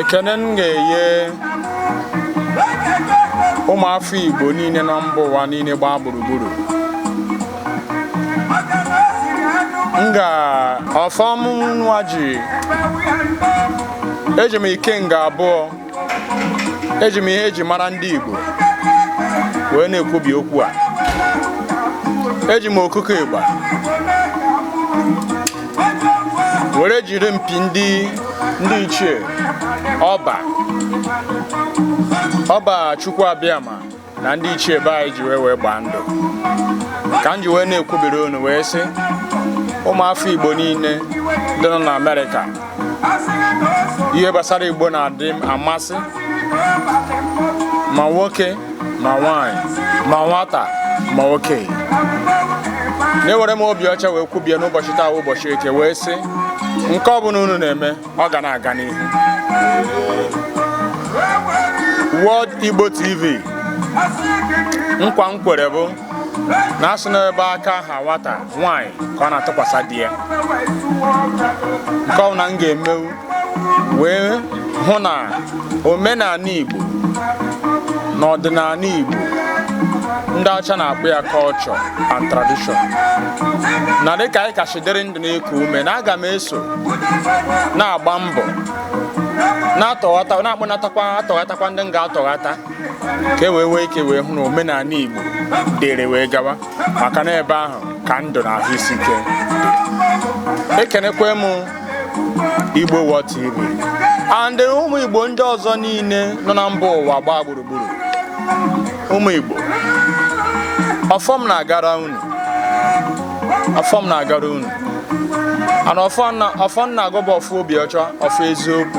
ekene m ga-enye ụmụafọ Igbo niile na mba ụwa niile gbaa gburugburu m ga ọfọ m nwa ji eji m ikenga abụọ eji m ihe eji mara ndị Igbo wee na-ekwubi okwu a eji m okuko ịgba were jiri mpi ndị ndị ichie ọba ọba chukwu abịama na ndị ichie be anyị ji wee wee gbaa ndụ ka m ji wee na-ekwubiri unu wee sị ụmụafọ igbo niile ndị nọ na amerịka ihe gbasara igbo na-adị amasị ma nwoke ma nwaanyị ma nwata ma okenye na-ewere m obi ọcha wee kwubie n'ụbọchị taa ụbọchị eke wee sị nke ọ bụla unu na-eme ọ ga na-aga n'ihu World Igbo TV nkwa m kwere bụ na a sị n'ebe aka ha nwata nwaanyị ka ọ na-atụkwasị di ya nke ọ na m ga-emewu wee hụ na omenala Igbo na ọdịnala Igbo ndị ọcha na-akpọ ya culture and tradition na dịka anyị kachi dịrị ndụ na-eku ume na aga m eso na-agba mbọ na-atọghata na-akpọnatakwa atọghatakwa ndị m ga-atọghata ka e wee nwee ike wee hụ na omenala Igbo dịrị wee gawa maka na ebe ahụ ka ndụ na ahụ isi ike ekenekwe m Igbo World TV and ụmụ Igbo ndị ọzọ niile nọ na mba ụwa gbaa gburugburu ụmụ Igbo ọfọ m na-agara unu ọfọ m na-agara unu and ọfọ m na-agọ bụ ọfọ obi ọcha ọfọ eziokwu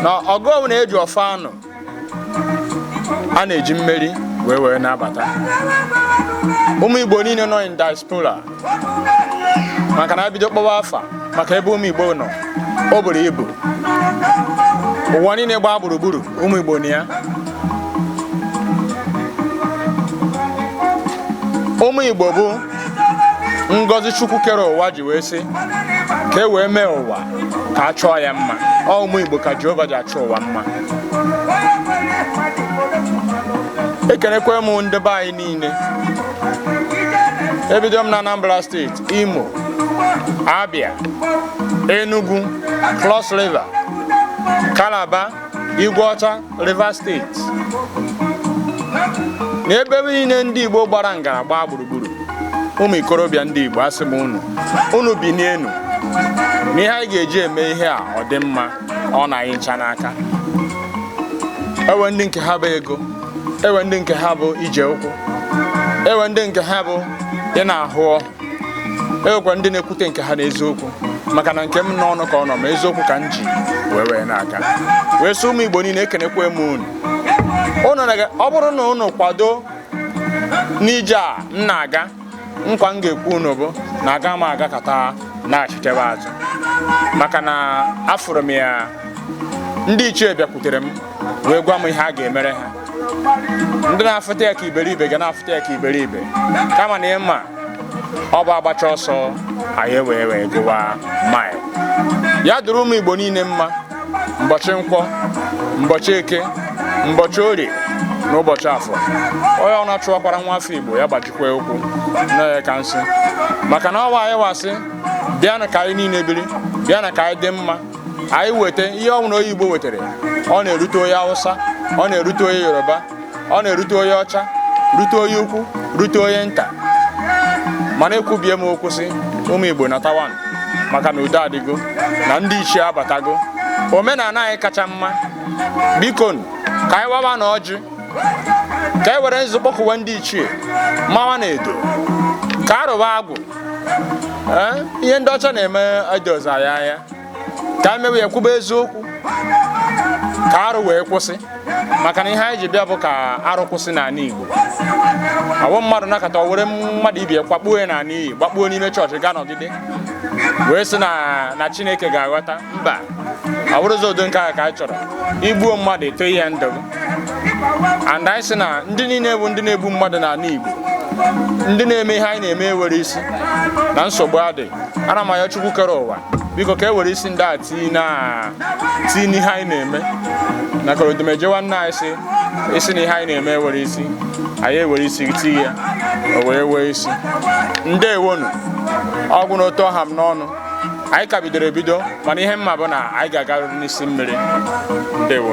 na ọgụ ọbụla eji ọfọ anụ a na-eji mmeri wee wee na-abata ụmụ Igbo niile nọ in diaspora maka na a bido kpọwa afa maka ebe ụmụ Igbo nọ o buru ibu ụwa niile gbaa gburugburu ụmụ Igbo nọ ya ụmụ Igbo bụ ngọzi Chukwu kere ụwa ji wee sị ka e wee mee ụwa ka a chọọ ya mma ọ ụmụ Igbo ka Jehova ji achọ ụwa mma ekenekwe m ndị be anyị niile ebido m na Anambra steeti Imo Abia Enugu Cross River Calabar Igweọcha Rivers steeti na ebe niile ndị Igbo gbara ngara gbaa gburugburu ụmụ ikorobịa ndị Igbo asị m unu unu binie enu na ihe anyị ga-eji eme ihe a ọ dị mma ọ nọ anyị ncha n'aka ewe ndị nke ha bụ ego ewe ndị nke ha bụ ije ụkwụ ewe ndị nke ha bụ ị na-ahụ ọhụ ewekwa ndị na-ekwute nke ha n'eziokwu maka na nke m n'ọnụ ka ọ nọ ma eziokwu ka m ji wee wee na-aga wee sị ụmụ Igbo niile ekenekwa m unu ọ bụrụ na unu kwado n'ije a m na-aga nkwa m ga-ekwe unu bụ na aga m agakata nachitebe azụ maka na afụrụ m ya ndị ichie bịakwutere m wee gwa m ihe a ga-emere ha ndị na-afụta ya ka iberibe ga na-afụta ya ka iberibe kama na ịma ọ bụ agbacha ọsọ anyị wee wee gụwa maịl ya dịrị ụmụ igbo niile mma mbọchị nkwọ mbọchị eke mbọchị orie na ụbọchị afọ onye ọ na-achụwakwara nwa afọ igbo ya gbaji kwe ụkwụ na aka nsị maka na ọ wụ anyịwa sị bịanụ ka anyị niile biri bịanụ ka anyị dị mma anyị weta ihe ọbụla onye Igbo wetara ọ na-erute onye Hausa ọ na-erute onye Yoruba ọ na-erute onye ọcha rute onye ukwu rute onye nta mana ekwubie m okwu sị ụmụ Igbo natawanụ maka na udo adịgo na ndị ichie abatago omenala anyị kacha mma biko ka anyị wawanụ ọjị ka e were nzu kpọkuwa ndị ichie mawanụ edo ka a rụba agwụ eh, ihe ndị ọcha na-eme edozi anyị anya ka e mewe ya kwube eziokwu ka arụ wee kwụsị maka na ihe anyị ji bịa bụ ka arụ kwụsị n'ala Igbo ọwụ mmadụ nọkata were mmadụ ibe kwakpuo ya n'ala iyi gbakpuo n'ime chọọchị gaa nọgide wee sị na Chineke ga-aghọta mba ọ bụrụzi ụdị nke a ka a chọrọ igbuo mmadụ eto ihe ndụ and anyị sị na ndị niile bụ ndị na-egbu mmadụ n'ala Igbo ndị na-eme ihe anyị na-eme ewere isi na nsogbu adị ana m ayọ Chukwu kere ụwa biko ka e were isi ndị a tii na tii n'ihe anyị na-eme na korodumeje nwanne anyị sị sị na ihe anyị na-eme ewero isi anyị ewere isi tii ya o wee wee isi ndewonu ọ gwụna otu ọ ha m n'ọnụ anyị ka bidoro ebido mana ihe m ma bụ na anyị ga-agarịrị n'isi mmiri ndewo